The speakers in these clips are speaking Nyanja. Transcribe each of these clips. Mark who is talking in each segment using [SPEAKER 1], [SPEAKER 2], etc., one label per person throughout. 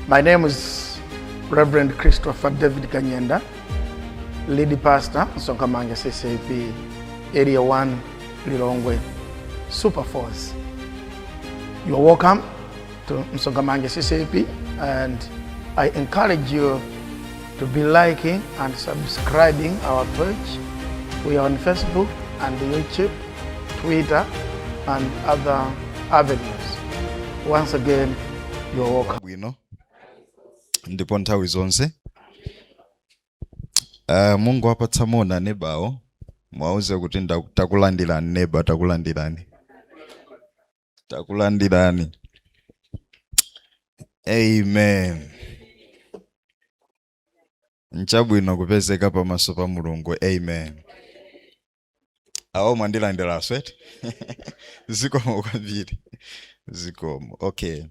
[SPEAKER 1] My name is Reverend Christopher David Kanyenda, lead pastor, Sonkamanga CCP, Area 1, Lilongwe, Super Force. You are welcome to Msongamanga CCP and I encourage you to be liking and subscribing our page. We are on Facebook and YouTube, Twitter, and other avenues. Once again, you are welcome.
[SPEAKER 2] bwino ndipo nthawi zonse uh, mungowapatsa moni nebawo mwauze kuti ndaku- takulandirani neba takulandirani takulandirani amen nchabwino kupezeka pamaso pa mulungu amen awo mwandilandira aswet zikomo kwambiri zikomo okay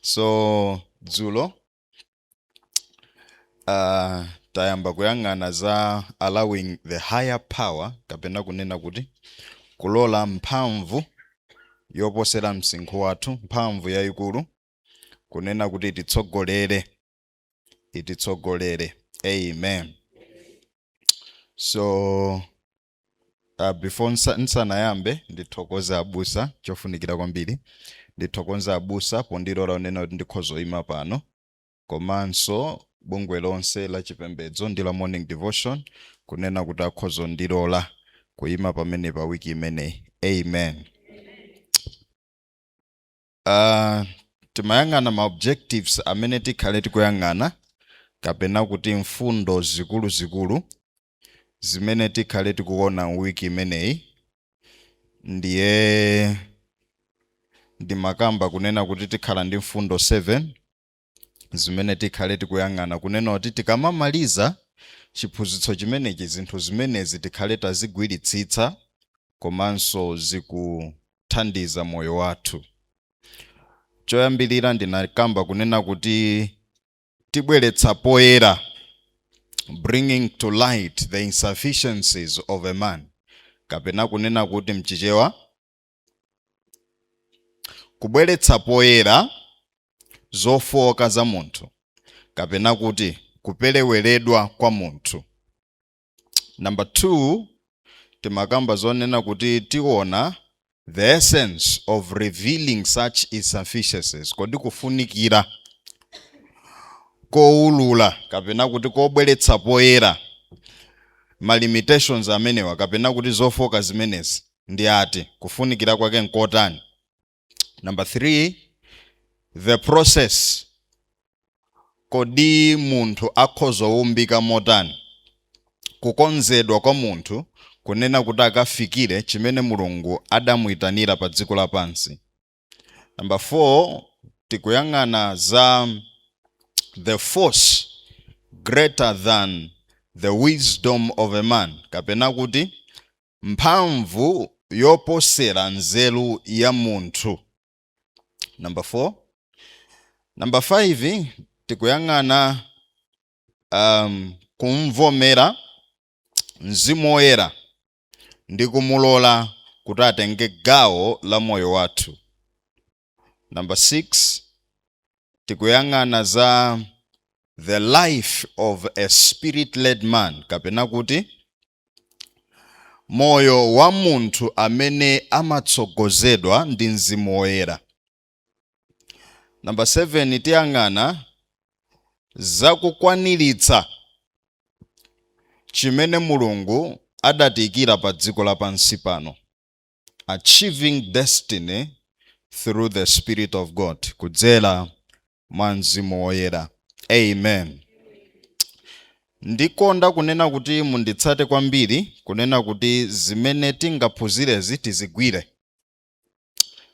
[SPEAKER 2] so dzulo uh, tayamba kuyang'ana za allowing the higher power kapena kunena kuti kulola mphamvu yoposera msinkhu wathu mphamvu yayikulu kunena kuti ititsogolere ititsogolere amen so Uh, before nsa, nsanayambe ndithokoze abusa chofunikira kwambiri ndithokoze abusa pondilola kunena kuti ndikhoza kuima pano komanso bungwe lonse la chipembedzo ndi la morning devotion kunena kuti akhoza kundilola kuima pamene pa wiki imeneyi amen uh, timayang'ana ma objectives amene tikhale tikuyang'ana kapena kuti mfundo zikuluzikulu zimene tikhale tikuona wiki imeneyi ndiye ndimakamba kunena kuti tikhala ndi mfundo 7 zimene tikhale tikuyang'ana kunena kuti tikamamaliza chiphunzitso chimenechi zinthu zimenezi tikhale tazigwiritsitsa komanso zikuthandiza moyo wathu choyambirira ndinakamba kunena kuti tibweretsa poyera bringing to light the insufficiencies of a man kapena kunena kuti mchichewa kubweretsa poyera zofooka za munthu kapena kuti kupereweredwa kwa munthu Number 2 timakamba zonena kuti tiona the essence of revealing such insufficiencies kodi kufunikira kowulula kapena kuti kobweretsa poyera ma limitations amenewa kapena kuti zofooka zimenezi ndi ati kufunikira kwake nkotani Number three, the process. Kodi munthu akhoza kuumbika motani? Kukonzedwa kwa munthu kunena kuti akafikire chimene Mulungu adamuitanira pa dziko lapansi. Number four, tikuyang'ana za the force greater than the wisdom of a man kapena kuti mphamvu yoposera nzeru ya munthu number 4 number 5 tikuyang'ana um, kumvomera mzimu woyera ndi kumulola kuti atenge gawo la moyo wathu Number 6 tikuyang'ana za the life of a spirit led man kapena kuti moyo wa munthu amene amatsogozedwa ndi mzimu woyera. Number 7 tiyang'ana za kukwaniritsa chimene Mulungu adatiikira pa dziko lapansi pano. Achieving Destiny Through The Spirit Of God, kudzera mwa Mzimu Woyera. Amen. Ndikonda kunena kuti munditsate kwambiri, kunena kuti zimene tingaphunzirezi tizigwire.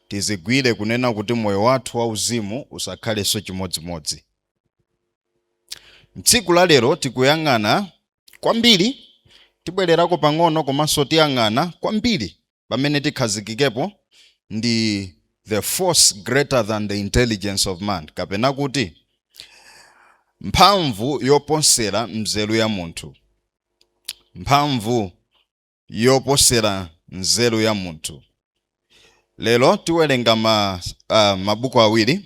[SPEAKER 2] Tizigwire kunena kuti moyo wathu wauzimu usakhalenso chimodzimodzi. Tsiku la lero tikuyang'ana Kwambiri, tibwererako pang'ono komanso tiyang'ana kwambiri pamene tikhazikikepo ndi the force greater than the intelligence of man kapena kuti mphamvu yoposera nzeru ya munthu. Mphamvu yoposera nzeru ya munthu. Lero tiwerenga ma, uh, mabuku awiri.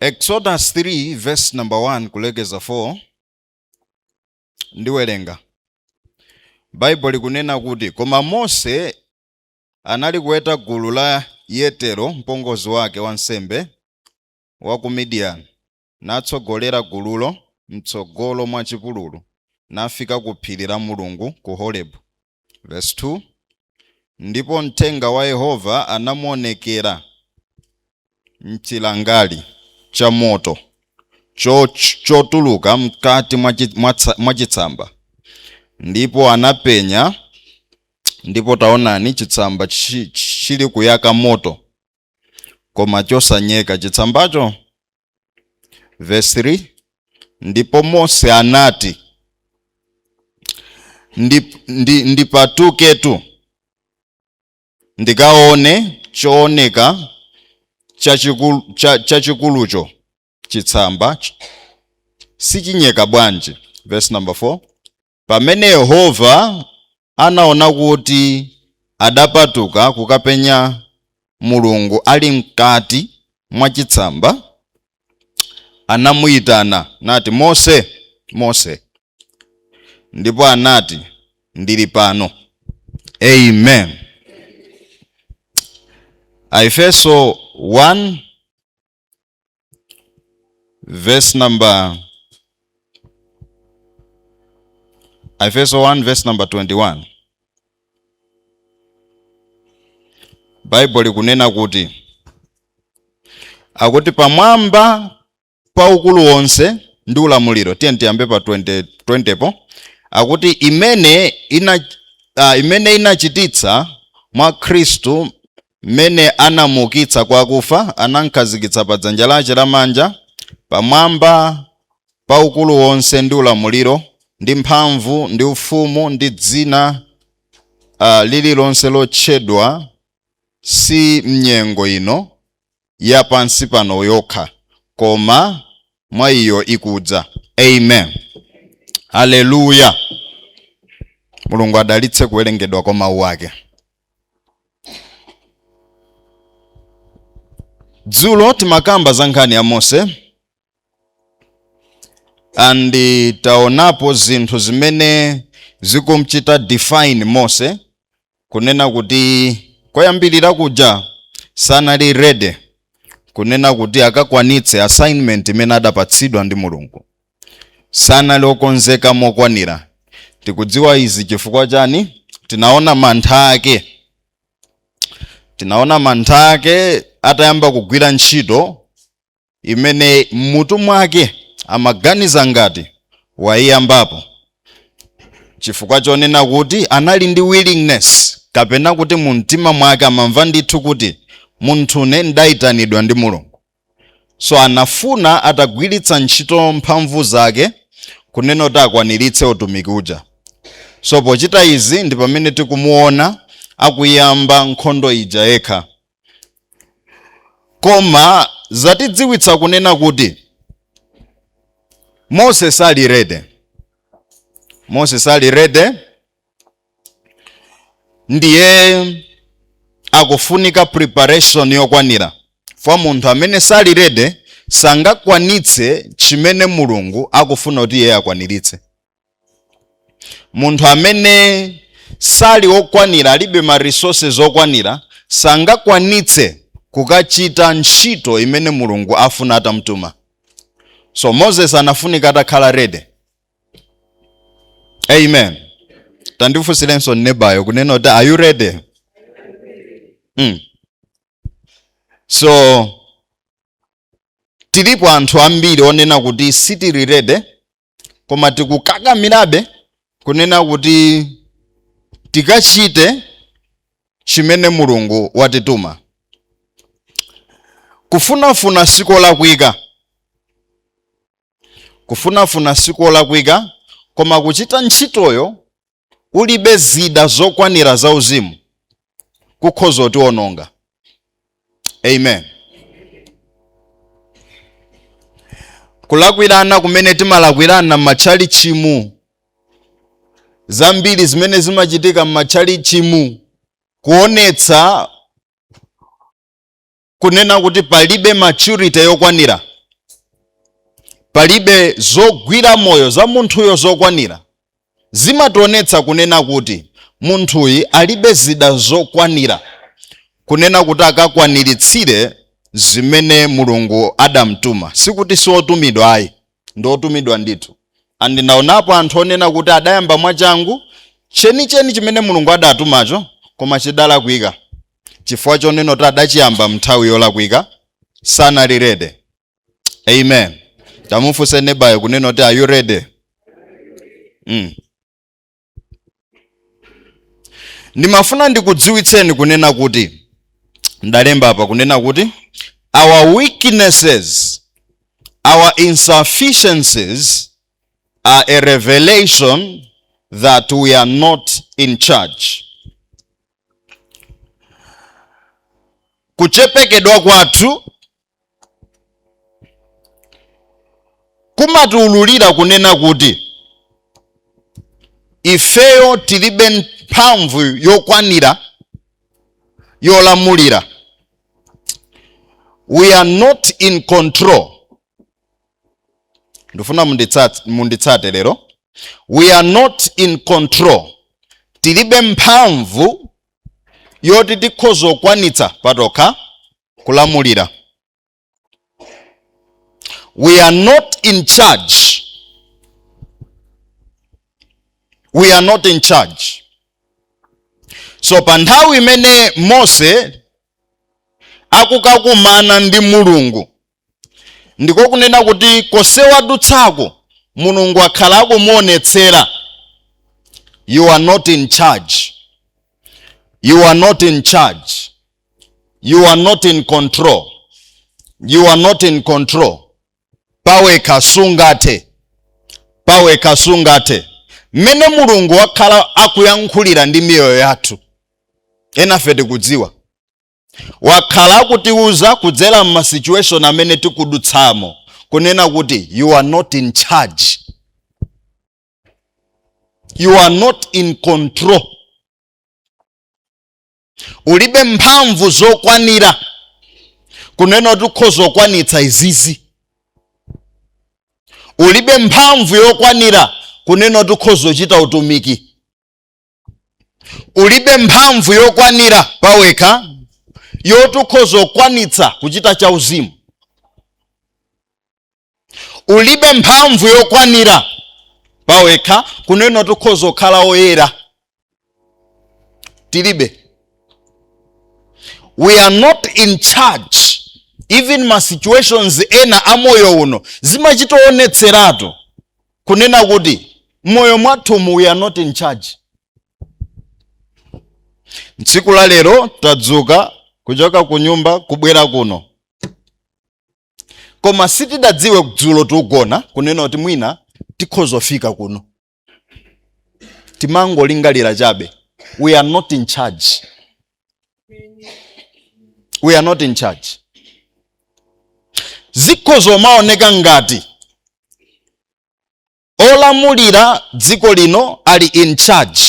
[SPEAKER 2] Exodus 3 verse number 1 kulekeza 4 ndiwerenga Baibulo likunena kuti koma Mose anali kuweta gulu la Yetero mpongozi wake wansembe wa ku Midian natsogolera gululo m'tsogolo mwa chipululu, nafika ku phiri la Mulungu ku Horebu. Verse 2, Ndipo mthenga wa Yehova anamuonekera m'chilangali cha moto chotuluka m'kati mwa chitsamba, ndipo anapenya, ndipo taonani, chitsamba chilikuyaka moto. koma chosanyeka chitsambacho verse 3 ndipo mose anati ndipatuketu ndikaone chooneka chachikulucho chitsamba sichinyeka bwanji verse number 4 Pamene Yehova anaona kuti adapatuka kukapenya Mulungu ali m'kati mwa chitsamba, anamuitana nati, Mose, Mose! Ndipo anati, Ndili pano. Amen. Aefeso 1 verse number Aefeso 1 verse number 21 Bible likunena kuti akuti pamwamba pa ukulu wonse ndi ulamuliro tiyeni tiyambe pa 20, 20 po akuti imene inachititsa mwa Khristu M'mene anamuukitsa kwa akufa, anamkhazikitsa pa dzanja lache lamanja, pamwamba pa ukulu wonse ndi ulamuliro ndi mphamvu ndi ufumu ndi dzina lililonse lotchedwa si mnyengo ino ya pansi pano yokha, koma mwa iyo ikudza. Amen. Haleluya. Mulungu adalitse kuwerengedwa kwa mawu ake. Dzulo timakamba za nkhani ya Mose and taonapo zinthu zimene zikumchita define mose kunena kuti koyambirira kuja sanali ready kunena kuti akakwanitse assignment imene adapatsidwa ndi mulungu sanali okonzeka mokwanira tikudziwa izi chifukwa chani tinaona mantha ake tinaona mantha ake atayamba kugwira ntchito imene m'mutu mwake amaganiza ngati waiyambapo chifukwa chonena kuti anali ndi willingness kapena kuti mu mtima mwake amamva ndithu kuti munthune ndaitanidwa ndi mulungu so anafuna atagwiritsa ntchito mphamvu zake kunena kuti akwaniritse utumiki uja so pochita izi ndi pamene tikumuona akuyamba nkhondo ija yekha koma zatidziwitsa kunena kuti mose sali ready mose sali ready ndiye akufunika preparation yokwanira kwa munthu amene sali ready sangakwanitse chimene mulungu akufuna kuti iye akwaniritse munthu amene sali okwanira alibe ma resources okwanira sangakwanitse kukachita ntchito imene mulungu afuna atamtuma so moses anafunika atakhala ready amen tandifunsirenso nebayo kunena kuti are you ready mm. so tilipo anthu ambiri onena kuti sitili ready koma tikukakamirabe kunena kuti tikachite chimene mulungu watituma kufunafuna sikolakwika kufunafuna sikolakwika koma kuchita ntchitoyo ulibe zida zokwanira zauzimu kukhoza kutiwononga amen kulakwirana kumene timalakwirana m'matchalitchimu zambiri zimene zimachitika m'matchalitchimu kuonetsa kunena kuti palibe maturity yokwanira palibe zogwira moyo za munthuyo zokwanira zimationetsa kunena kuti munthuyi alibe zida zokwanira kunena kuti akakwaniritsire zimene mulungu adamtuma sikuti siotumidwa ayi ndi otumidwa ndithu and ndinaonapo anthu onena kuti adayamba mwachangu chenicheni chimene mulungu adatumacho koma chidalakwika chifukwa chonena kuti adachiyamba mnthawi yolakwika sanali ready amen tamufunse nebayo kunena kuti are you ready mm. ndimafuna ndikudziwitseni kunena kuti ndalemba apa kunena kuti our weaknesses our insufficiencies are a revelation that we are not in charge kuchepekedwa kwathu kumatiululira kunena kuti ifeyo tilibe mphamvu yokwanira yolamulira we are not in control ndifuna munditsate lero we are not in control tilibe mphamvu yoti tikhoza kukwanitsa patokha kulamulira we are not in charge we are not in charge so pa nthawi imene mose akukakumana ndi mulungu ndiko kunena kuti konse wadutsako mulungu wakhala akumuonetsera you are not in charge you are not in charge you are not in control you are not in control pawekha sungathe pawekha sungathe mmene mulungu wakhala akuyankhulira ndi miyoyo yathu enafe tikudziwa wakhala akutiuza kudzera m'ma situation amene tikudutsamo kunena kuti you are not in charge you are not in control ulibe mphamvu zokwanira kunena kuti ukhoza kukwanitsa izizi ulibe mphamvu yokwanira kunena kuti ukhoza kuchita utumiki ulibe mphamvu yokwanira pawekha yoti ukhoza kukwanitsa kuchita chauzimu ulibe mphamvu yokwanira pawekha kunena kuti ukhoza kukhala woyera tilibe we are not in charge even ma situations ena a moyo uno zimachitoonetseratu kunena kuti moyo mwathumu we are not in charge tsiku la lero tadzuka kuchoka ku nyumba kubwera kuno koma sitidadziwe dzulo tikugona kunena kuti mwina tikhozofika kuno timangolingalira chabe we are not in charge we are not in charge zikhozomaoneka ngati olamulira dziko lino ali in charge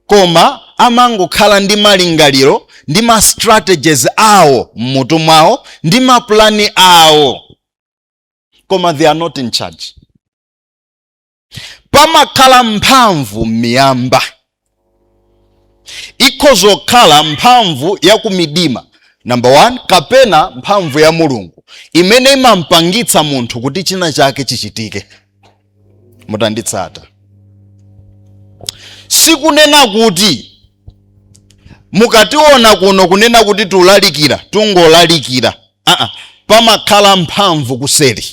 [SPEAKER 2] koma amangokhala ndi malingaliro ndi ma strategies awo m'mutu mwawo ndi mapulani awo koma they are not in charge pamakhala mphamvu m'miyamba ikhoza kukhala mphamvu ya kumidima number one kapena mphamvu ya mulungu imene imampangitsa munthu kuti china chake chichitike mutanditsata sikunena kuti mukationa kuno kunena kuti tulalikira tungolalikira aa pamakhala mphamvu kuseri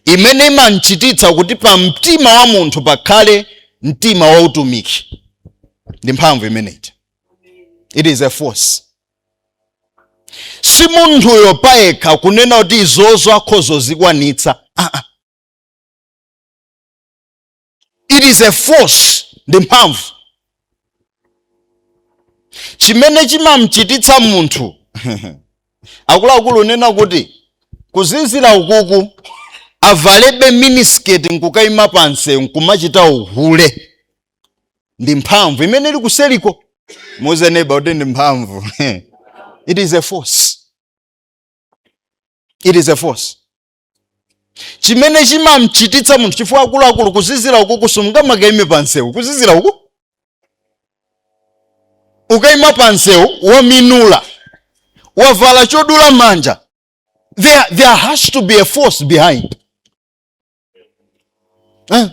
[SPEAKER 2] imene imamchititsa kuti pa mtima wa munthu pakhale mtima wa utumiki ndi mphamvu imeneyi it is a force si munthuyo payekha kunena kuti izozo akhozozikwanitsa ah, ah. it is a force ndi mphamvu chimene chimamchititsa munthu akuluakulu unena kuti kuzizira ukuku avalebe minisketi nkukayima pamsewu nkumachita uhule ndi mphamvu imene ili kuseriko muuze neba kuti ndi mphamvu it is a force it is a force chimene chimamchititsa munthu chifukwa akuluakulu kuzizira uku sungamakaime pa msewu kuzizira uku ukaima pa msewu waminula wavala chodula manja there, there has to be a force behind eh?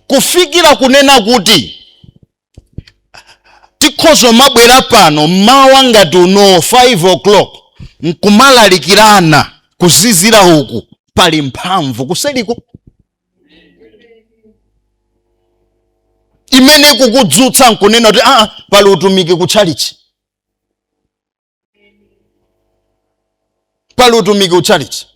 [SPEAKER 2] kufikira kunena kuti tikhoza mabwera pano mmawa ngati uno 5 o'clock nkumalalikirana kuzizira uku pali mphamvu kuseriko imene ikukudzutsa nkunena kuti aa pali utumiki ku tchalitchi pali utumiki utchalitchi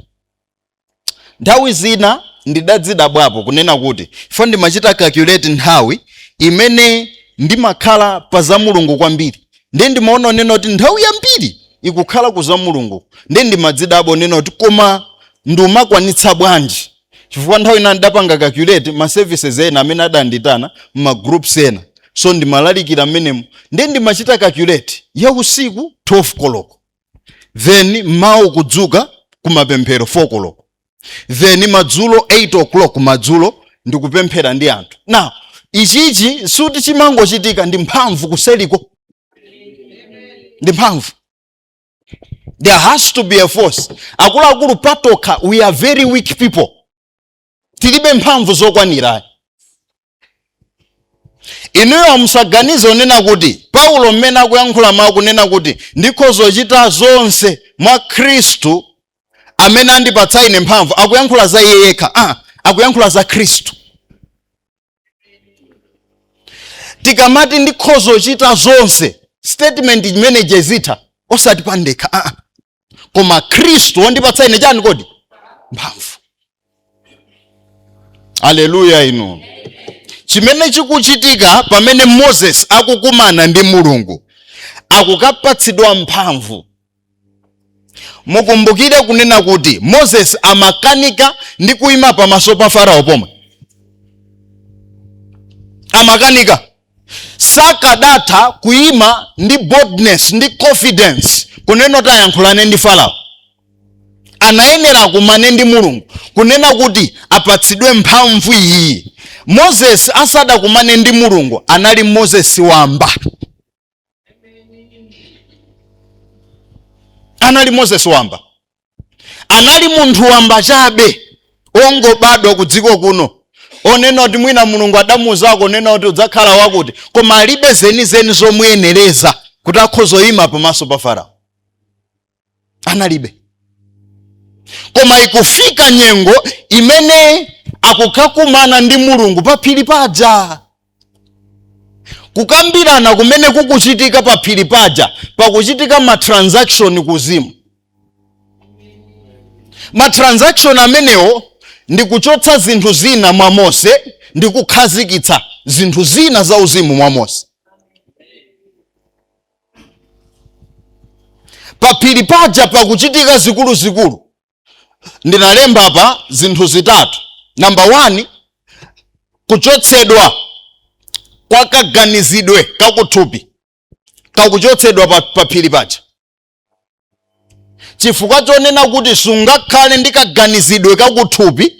[SPEAKER 2] nthawi zina ndidadzidabwapo kunena kuti chifukwa ndimachita calculate nthawi imene ndimakhala pa za mulungu kwambiri ndiye ndimaona unena kuti nthawi yambiri ikukhala ku za mulungu ndiye ndimadzidabwa unena kuti koma ndiye umakwanitsa bwanji Chifukwa nthawi ina ndidapanga calculate ma services ena amene adanditana mma groups ena so ndimalalikira mmenemu ndiye ndimachita calculate ya usiku 12 koloko then mmawa kudzuka kumapemphero 4 koloko then madzulo 8 o'clock madzulo ndikupemphera ndi anthu now ichichi sikuti chimangochitika ndi mphamvu kuseriko ndi mphamvu there has to be a force akuluakulu patokha we are very weak people tilibe mphamvu zokwanira inuyo musaganize kunena kuti paulo mmene akuyankhula mawu kunena kuti ndikhoza kuchita zonse mwa khristu amene andipatsa ine mphamvu akuyankhula za iye yekha ah, akuyankhula za khristu tikamati ndikhoza kuchita zonse statement imene ija izitha osati pandekha aa koma khristu wondipatsa ine chani kodi mphamvu aleluya inu chimene chikuchitika pamene moses akukumana ndi mulungu akukapatsidwa mphamvu mukumbukire kunena kuti moses amakanika ndi kuima pamaso pa farao pomwe amakanika sakadatha kuima ndi boldness ndi confidence kunena kuti ayankhulane ndi farao anayenera akumane ndi mulungu kunena kuti apatsidwe mphamvu iyi moses asadakumane ndi mulungu anali moses wamba anali moses wamba anali munthu wamba chabe ongobadwa ku dziko kuno onena kuti mwina mulungu adamuuzako kunena kuti udzakhala wakuti koma alibe zenizeni zomuyenereza kuti akhoza kuima pamaso pa farao analibe koma ikufika nyengo imene akukakumana ndi mulungu paphiri paja kukambirana kumene kukuchitika paphiri paja pakuchitika matransaction kuuzimu matransaction amenewo ndi kuchotsa zinthu zina mwa mose ndi kukhazikitsa zinthu zina za uzimu mwa mose paphiri paja pakuchitika zikuluzikulu ndinalemba apa zinthu zitatu namba 1 kuchotsedwa kwa kaganizidwe kakuthupi kakuchotsedwa pa- paphiri paja chifukwa chonena kuti sungakhale ndi kaganizidwe kakuthupi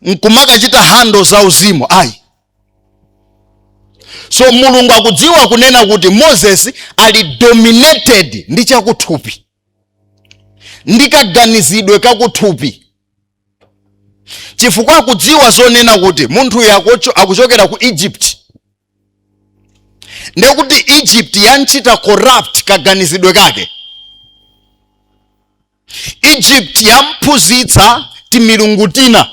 [SPEAKER 2] nkumakachita handle za uzimu ayi so mulungu akudziwa kunena kuti moses ali dominated ndi chakuthupi ndi kaganizidwe kakuthupi chifukwa akudziwa zonena kuti munthuyu akucho- akuchokera ku egypt ndekuti egypt yanchita corrupt kaganizidwe kake egypt yamphunzitsa timilungu tina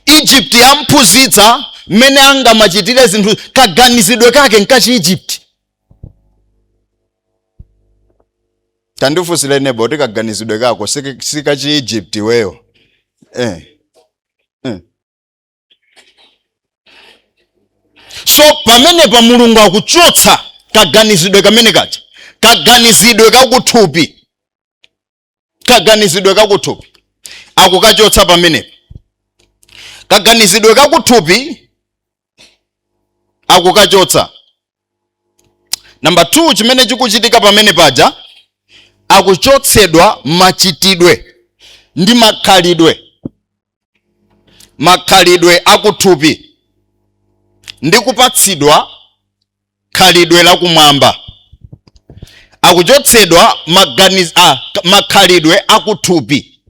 [SPEAKER 2] egypt yamphunzitsa mmene angamachitire zinthu kaganizidwe kake nkachi egypt tandifunsire neba kuti kaganizidwe kako sikachi egypt iweyo eh. so pamenepa mulungu akuchotsa kaganizidwe kamene kaja kaganizidwe kakuthupi kaganizidwe kakuthupi akukachotsa pamenepa kaganizidwe kakuthupi akukachotsa namba 2 chimene chikuchitika pamene paja akuchotsedwa machitidwe ndi makhalidwe makhalidwe akuthupi ndi kupatsidwa khalidwe lakumwamba akuchotsedwa maganiz, a, makhalidwe akuthupi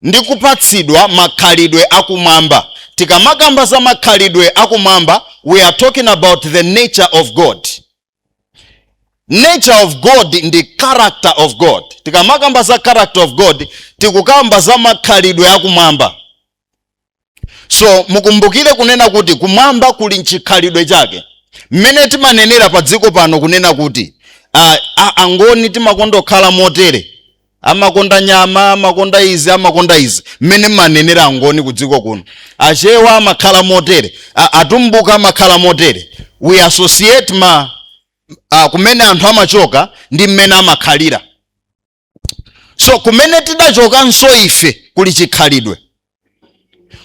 [SPEAKER 2] ndi kupatsidwa makhalidwe akumwamba tikamakamba za makhalidwe akumwamba we are talking about the nature of god nature of god ndi character of god tikamakamba za character of god tikukamba za makhalidwe akumwamba so mukumbukire kunena kuti kumwamba kuli nchikhalidwe chake mmene timanenera pa dziko pano kunena kuti ah, ah, angoni timakondokhala motere amakonda nyama amakonda izi amakonda izi mmene manenera angoni kudziko kuno achewa amakhala motere a- atumbuka amakhala motere we associate ma a, kumene anthu amachoka ndi mmene amakhalira so kumene tidachokanso ife kuli chikhalidwe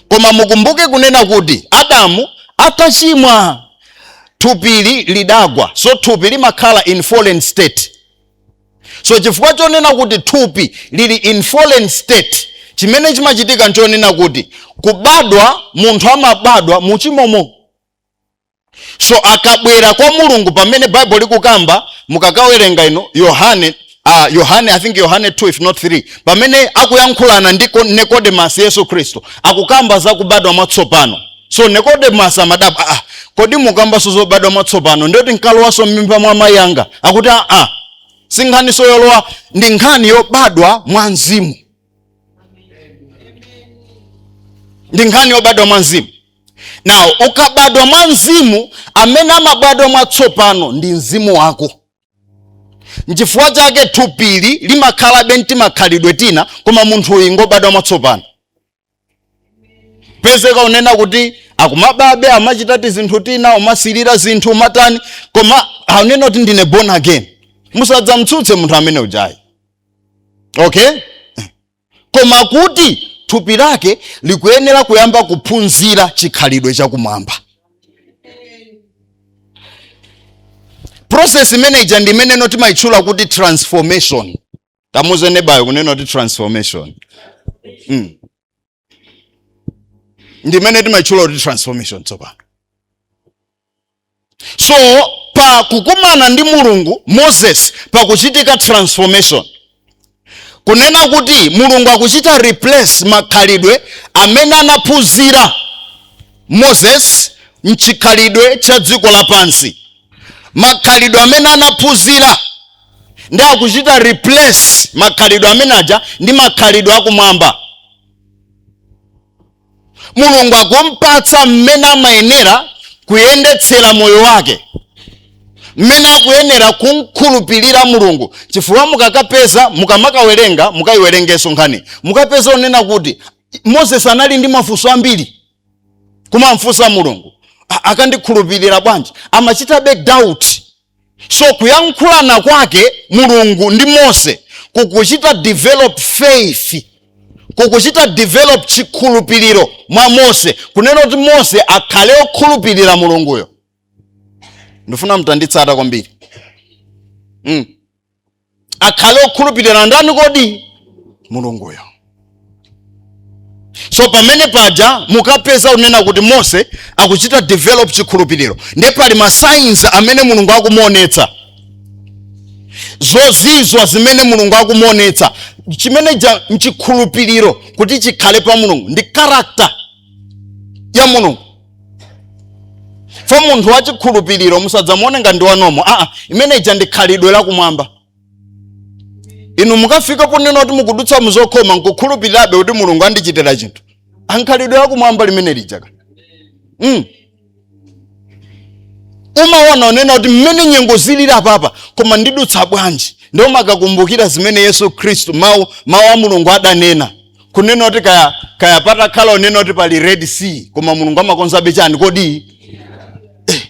[SPEAKER 2] koma mukumbuke kunena kuti adamu atachimwa thupili lidagwa so thupi limakhala in fallen state so chifukwa chonena kuti thupi lili in fallen state chimene chimachitika nchonena kuti kubadwa munthu amabadwa muchimomo so akabwera kwa mulungu pamene bible likukamba mukakawerenga ino yohane uh, yohane i think yohane 2 if not 3 pamene akuyankhulana ndi Ko- nikodemasi yesu khristu akukamba za kubadwa mwatsopano so nikodemasi amadabwa ah, kodi mukambanso zobadwa mwatsopano ndiyoti nkalowanso m'mimba mwa mayi anga akuti aa ah, ah, si nkhaninso yolowa ndi nkhani yobadwa mwa mzimu ndi nkhani yobadwa mwa mzimu now ukabadwa mwa mzimu amene amabadwa mwatsopano ndi mzimu wako nchifukwa chake thupili limakhalabe ntimakhalidwe tina koma munthu uyu ngobadwa mwatsopano pezeka kunena kuti akumababe amachita tizinthu tina kumasilira zinthu kumatani koma akunena kuti ndine born again musadzamtsutse munthu amene ujayi okay koma kuti thupi lake likuyenera kuyamba kuphunzira chikhalidwe chakumwamba process imene ija ndi imeneno timayitchula kuti transformation tamuuze nebayo kunena kuti transformation mm. ndi imene timayitchula kuti transformation tsopano so pa kukumana ndi mulungu moses pakuchitika transformation kunena kuti mulungu akuchita replace makhalidwe amene anaphunzira moses mchikhalidwe cha dziko lapansi makhalidwe amene anaphunzira ndi akuchita replace makhalidwe amene aja ndi makhalidwe akumwamba mulungu akumpatsa mmene amayenera kuyendetsera moyo wake mmene akuyenera kumkhulupirira mulungu chifukwa mukakapeza mukamakawerenga mukakayiwerengenso nkhani mukapeza kunena kuti moses anali ndi mafunso ambiri kumamfunsa mulungu "A- akandikhulupirira bwanji amachitabe doubt so kuyankhulana kwake mulungu ndi mose kukuchita develop faith kukuchita develop chikhulupiriro mwa mose kunena kuti mose akhale okhulupirira mulunguyo ndifuna mutanditsata kwambiri mm. akhale okhulupirira ndani kodi mulunguyo so pamene paja mukapeza kunena kuti mose akuchita develop chikhulupiriro ndiye pali ma signs amene mulungu akumuonetsa zozizwa zimene mulungu akumuonetsa chimene chija nchikhulupiriro kuti chikhale pa mulungu ndi character ya mulungu so munthu wachikhulupiriro musadzamuone ngati ndi wa normal aa imene ija ndi khalidwe lakumwamba inu mukafika ponena kuti mukudutsa muzokhoma nkukhulupirirabe kuti mulungu andichitira chinthu ndi khalidwe lakumwamba limene lijaka mm. umaona kunena kuti mmene nyengo zilili apapa koma ndidutsa bwanji ndiye umakakumbukira zimene yesu khristu mawu mawu a mulungu adanena kunena kuti kaya kaya patakhala kunena kuti pali red sea koma mulungu amakonzabe chani kodi Eh.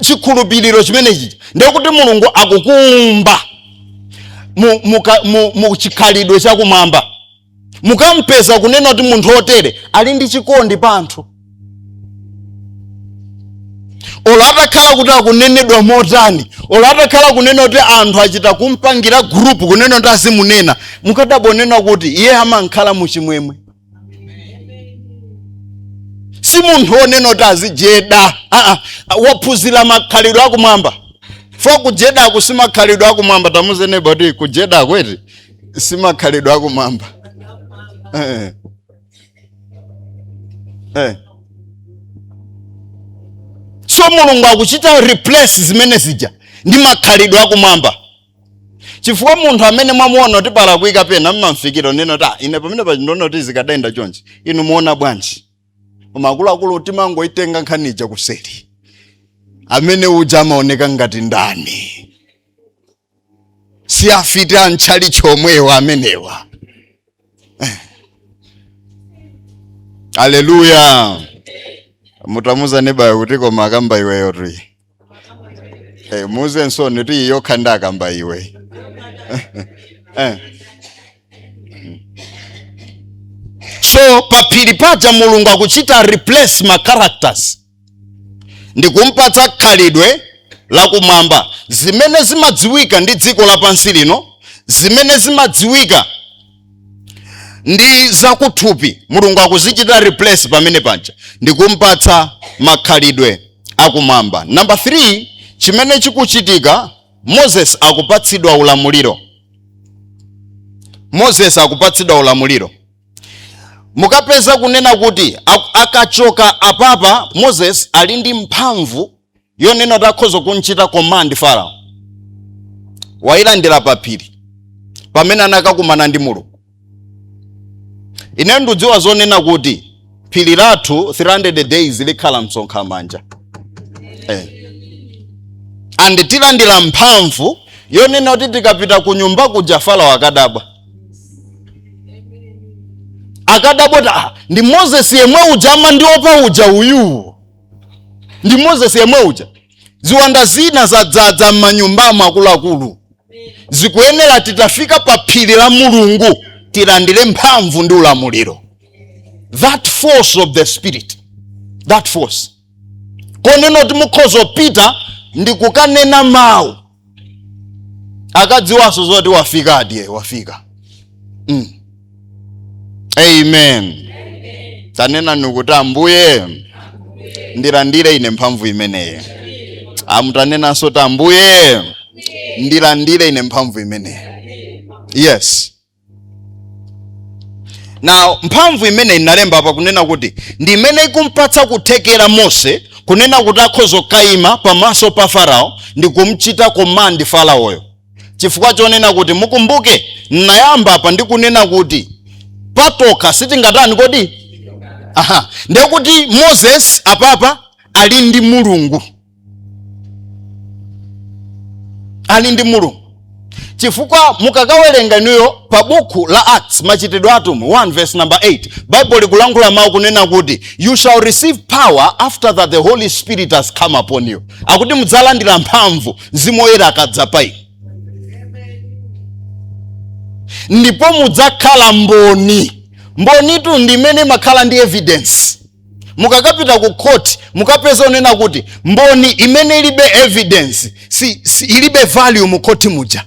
[SPEAKER 2] chikhulupiriro chimenechi ndiye kuti mulungu akukuumba mu, mu, ka- mu, mu chikhalidwe chakumwamba mukampeza kunena kuti munthu otere ali ndi chikondi pa anthu olo atakhala kuti akunenedwa motani olo atakhala kunena kuti anthu achita kumpangira group kunena kuti azimunena mukadabonena kuti iye amankhala muchimwemwe si munthu onena kuti azijeda aa waphunzira makhalidwe akumwamba for kujedako si makhalidwe akumwamba tamuuzeni neba kuti kujedako eti si makhalidwe akumwamba Eh. eh. so mulungu akuchita replace zimene zija ndi makhalidwe akumwamba chifukwa munthu amene mwamuona kuti palakwika pena mumamfikira n'kunena kuti ine pamene apa ndikuona kuti zikadayenda chonchi inu mukuona bwanji koma akuluakulu timangoitenga nkhani ija kuseri amene uja amaoneka ngati ndani si afiti a mtchalitchi momwemu amenewa Eh. aleluya mutamuuza nebayo kuti koma akamba iweyo eti eh, muuzeninso kuti iyo khanda akamba iwe eh. so paphiri paja mulungu akuchita replace ma characters ndikumpatsa khalidwe lakumwamba zimene zimadziwika ndi dziko lapansi lino zimene zimadziwika ndi zakuthupi mulungu akuzichita replace pamene paja ndikumpatsa makhalidwe akumwamba namba 3 chimene chikuchitika moses akupatsidwa ulamuliro moses akupatsidwa ulamuliro mukapeza kunena kuti ak- akachoka apapa moses ali ndi mphamvu yonena kuti akhoza kumchita command farao wayilandira paphiri pamene anakakumana ndi mulungu ine ndikudziwa zonena kuti phiri lathu 300 days likhala msonkha manja eh. and tilandira mphamvu yonena kuti tikapita ku nyumba kuja farao akadabwa akadabwa kuti "Ah, ndi moses yemwe uja amandiopa uja uyu ndi moses yemwe uja ziwanda zina zadzadza m'manyumbamo akuluakulu zikuyenera titafika pa phiri la mulungu tilandire mphamvu ndi ulamuliro that force of the spirit that force yonena kuti mukhoza kupita ndikukanena mawu akadziwanso zoti wafika adadi wafika mm. amen tanenani kuti ambuye ndilandire ine mphamvu imeneyi ah mutanenanso kuti ambuye ndilandire ine mphamvu imeneyi yes na mphamvu imeneyi inalemba apa kunena kuti ndi imene ikumpatsa kuthekera mose kunena kuti akhozokaima pamaso pa farao ndi kumchita komandi faraoyo chifukwa chonena kuti mukumbuke nnayamba apa ndi kunena kuti patokha sitingatani kodi aha ndekuti moses apapa ali ndi mulungu ali ndi mulungu chifukwa mukakawerenga inuyo pa bukhu la acts machitidwe a atumwi 1 verse number 8 bible likulankhula mawu kunena kuti you shall receive power after that the holy spirit has come upon you akuti mudzalandira mphamvu mzimu woyera akadza pa inu ndipo mudzakhala mboni mbonitu ndi imene imakhala ndi evidence mukakapita ku court mukapeza onena kuti mboni imene ilibe evidence siilibe value mu court muja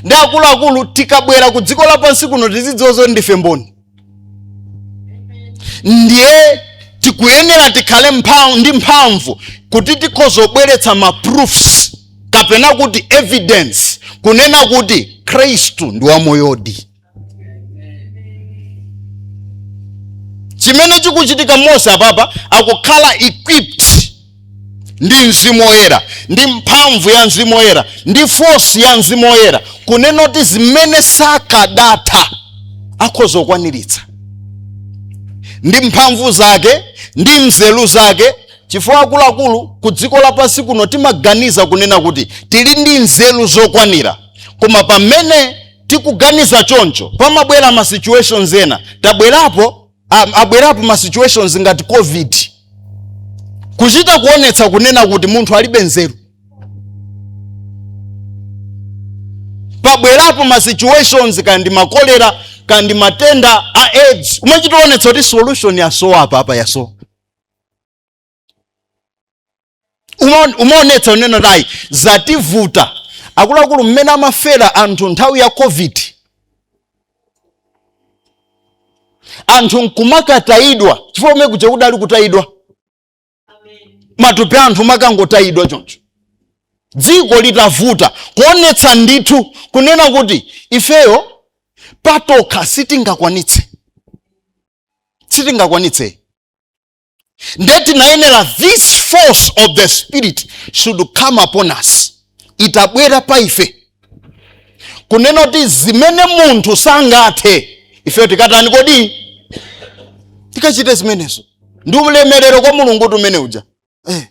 [SPEAKER 2] nde akuluakulu tikabwera ku dziko lapansi kuno tizidziwa zoti ndife mboni ndiye tikuyenera tikhale ndi mphamvu kuti tikhozobweretsa ma proofs kapena kuti evidence kunena kuti khristu ndi wamoyodi chimene chikuchitika mose apapa akukhala equipped ndi mzimu woyera ndi mphamvu ya mzimu woyera ndi force ya mzimu woyera kunena kuti zimene sakadatha akhoza kukwaniritsa ndi mphamvu zake ndi nzeru zake chifukwa akuluakulu ku dziko lapansi kuno timaganiza kunena kuti tili ndi nzeru zokwanira koma pamene tikuganiza choncho pamabwera ma situations ena tabwerapo abwerapo ma situations ngati covid kuchita kuonetsa kunena kuti munthu alibe nzeru pabwerapo ma situations kandi makolera kandi matenda a aids umachitoonetsa kuti solution yasowa apapa yasowa umaonetsa unena tayi zativuta akuluakulu mmene amafera anthu nthawi ya covid anthu nkumakatayidwa chifukwa umene kuja kunali kutayidwa matupi a anthu nkumakangotayidwa choncho dziko litavuta kuonetsa ndithu kunena kuti ifeyo patokha sitingakwanitse sitingakwanitse nde tinayenera this force of the spirit should come upon us itabwera pa ife kunena kuti zimene munthu sangathe ifeyo tikatani kodi tikachite zimenezo ndi ulemerero kwa mulungu kuti mmene muja eh,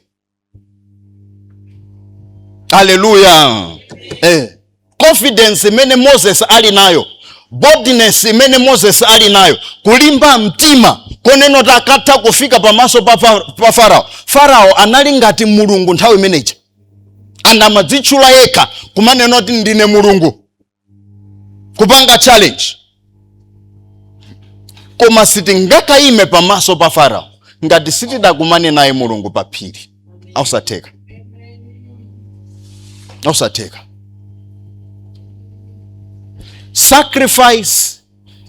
[SPEAKER 2] haleluya eh. confidence imene moses ali nayo boldness imene moses ali nayo kulimba mtima konena kuti atha kufika pamaso pa, fa, pa farao farao anali ngati mulungu nthawi imeneja anamadzitchula yekha kumanena kuti ndine mulungu kupanga challenge koma sitingakayime pamaso pa farao ngati sitidakumane naye mulungu pa phiri nzosatheka nzosatheka sacrifice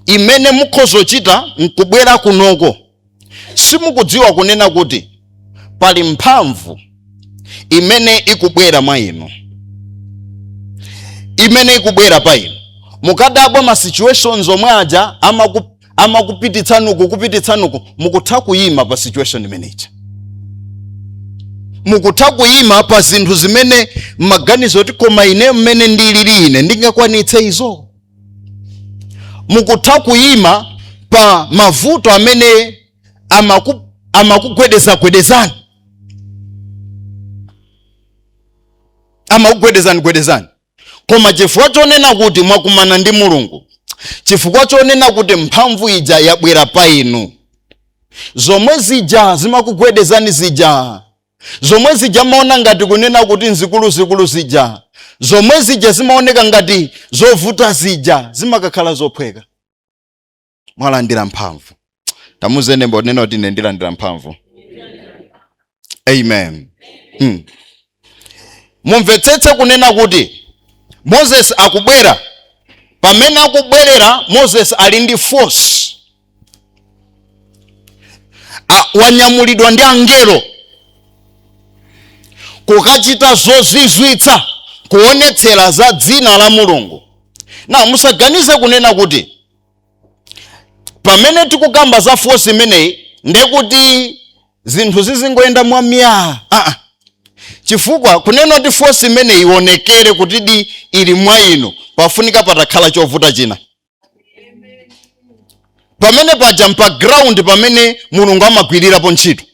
[SPEAKER 2] imene mukhozochita nkubwera kunoko simukudziwa kunena kuti pali mphamvu imene ikubwera mwa inu imene ikubwera pa inu mukadabwa ma situations omwe aja amakupititsani uku kupititsani uku mukutha kuyima pa situation imeneja mukutha kuyima pa zinthu zimene maganizo oti koma ine mmene ndilili ine ndingakwanitse izo mukutha kuyima pa mavuto amene amakugwedezagwedezani amakugwedezani gwedezani koma chifukwa chonena kuti mwakumana ndi mulungu chifukwa chonena kuti mphamvu ija yabwera pa inu zomwe zija zimakugwedezani zija zomwe zija mmaona ngati kunena kuti nzikuluzikulu zija zomwe zija zimaoneka ngati zovuta zija zimakakhala zophweka mwalandira mphamvu tamuuzeni neba kunena kuti ine ndilandira mphamvu amen hmm. mumvetsetse kunena kuti moses akubwera pamene akubwerera moses ali ndi force wanyamulidwa ndi angelo kukachita zozizwitsa kuonetsera za dzina la mulungu na musaganize kunena kuti pamene tikukamba za force imeneyi ndekuti zinthu zizingoyenda mwa myaa ah, chifukwa kunena kuti force imeneyi ionekere kutidi ili mwa inu pafunika patakhala chovuta china pamene paja mpa ground pamene mulungu amagwirirapo ntchito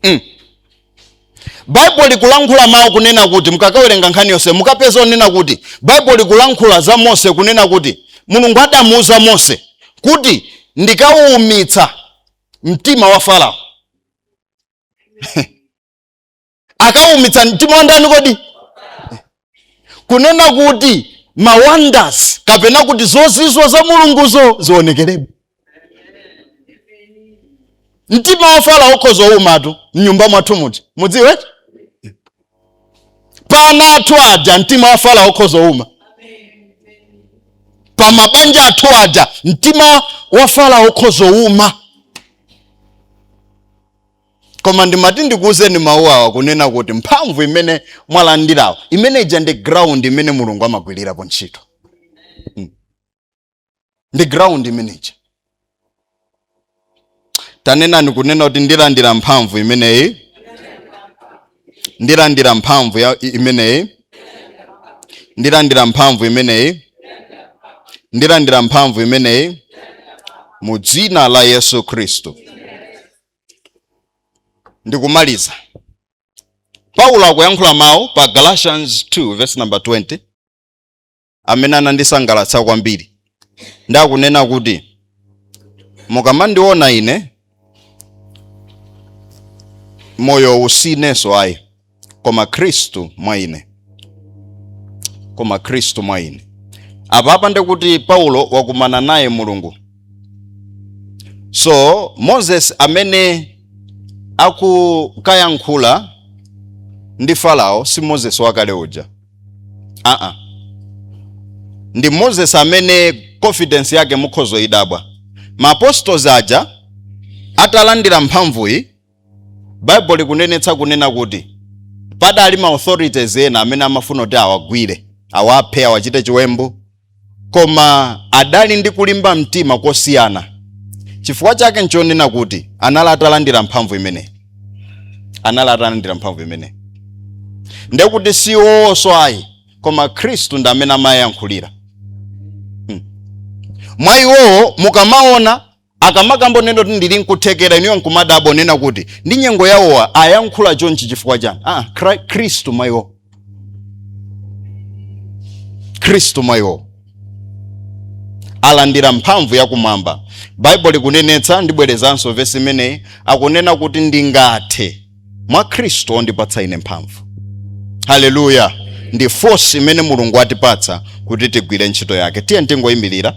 [SPEAKER 2] mm. baibulo likulankhula mawu kunena kuti mukakawerenga nkhani yonse mukapeza kunena kuti baibulo likulankhula za mose kunena kuti mulungu adamuuza mose kuti ndikauumitsa mtima wa farao akaumitsa mtima wa ndani kodi kunena kuti ma wonders kapena kuti zozizwa za mulunguzo zionekeredwe mtima wa farao ukhoza kuumatu mnyumba mwathu kuti mudziwe pana athu aja mtima wa farao ukhoza kuuma pa mabanja athu aja mtima wa farao ukhoza kuuma koma ndimati ndikuwuzeni mawu awa kunena kuti mphamvu imene mwalandirawo imene ija ndi ground imene mulungu amagwirirapo ntchito Mm. ndi ground imene ija tanenani kunena kuti ndilandira mphamvu imeneyi ndilandira mphamvu ya- i- imeneyi ndilandira mphamvu imeneyi ndilandira mphamvu imeneyi mu dzina la yesu khristu ndikumaliza paulo akuyankhula mawu pa galatians 2 verse number 20 amene anandisangalatsa kwambiri nde akunena kuti mukamandiona ine moyo sinenso ayi koma khristu mwa ine koma khristu mwa ine apapa nde kuti paulo wakumana naye mulungu so moses amene akukayankhula ndi farao si moses wakale uja aa ndi moses amene confidence yake mukhoza kuidabwa ma apostles aja atalandira mphamvuyi baibulo likunenetsa kunena kuti padali ma authorities ena amene amafuna kuti awagwire awaphe awachite chiwembu koma adali ndi kulimba mtima kosiyana chifukwa chake nchonena kuti anali atalandira mphamvu imeneyi ndekuti si iwowonso ayi koma khristu ndi amene amayankhulira mwa iwowo mukamaona Akamakamba unena kuti ndili nkuthekera inuyo nkumadabwa unena kuti ndi nyengo yawowa ayankhula chonchi chifukwa chani? Ah, Kri- Khristu mwa iwo. Khristu mwa iwo. alandira mphamvu yakumwamba baibulo likunenetsa ndibwerezanso vesi imeneyi akunena kuti ndingathe mwa khristu ondipatsa ine mphamvu haleluya ndi force imene mulungu atipatsa kuti tigwire ntchito yake tiyeni tingoyimirira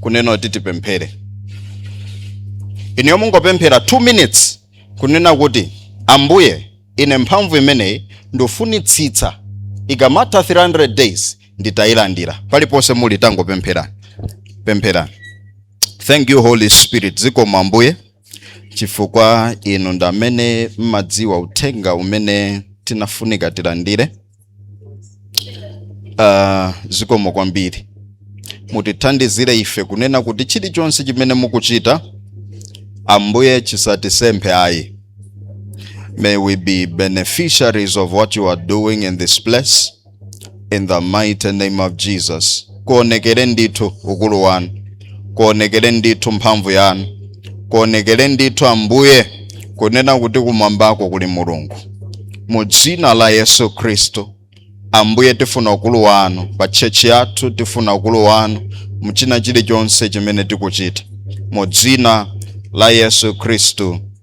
[SPEAKER 2] kunena kuti tipemphere inuyo mungopemphera 2 minutes kunena kuti ambuye ine mphamvu imeneyi ndifunitsitsa ikamatha 300 days nditayilandira paliponse muli tangopempherani pempherani thank you holy spirit zikomo ambuye chifukwa inu ndamene mmadziwa uthenga umene tinafunika tilandire uh, zikomo kwambiri mutithandizire ife kunena kuti chilichonse chimene mukuchita ambuye chisatisemphe ayi may we be beneficiaries of what you are doing in this place in the mighty name of jesus kuonekere ndithu ukulu wanu kuonekere ndithu mphamvu yanu kuonekere ndithu ambuye kunena kuti kumwambako kuli mulungu mu dzina la yesu khristu ambuye tifuna ukulu wanu pa tchechi yathu tifuna ukulu wanu mu china chilichonse chimene tikuchita mu dzina la yesu khristu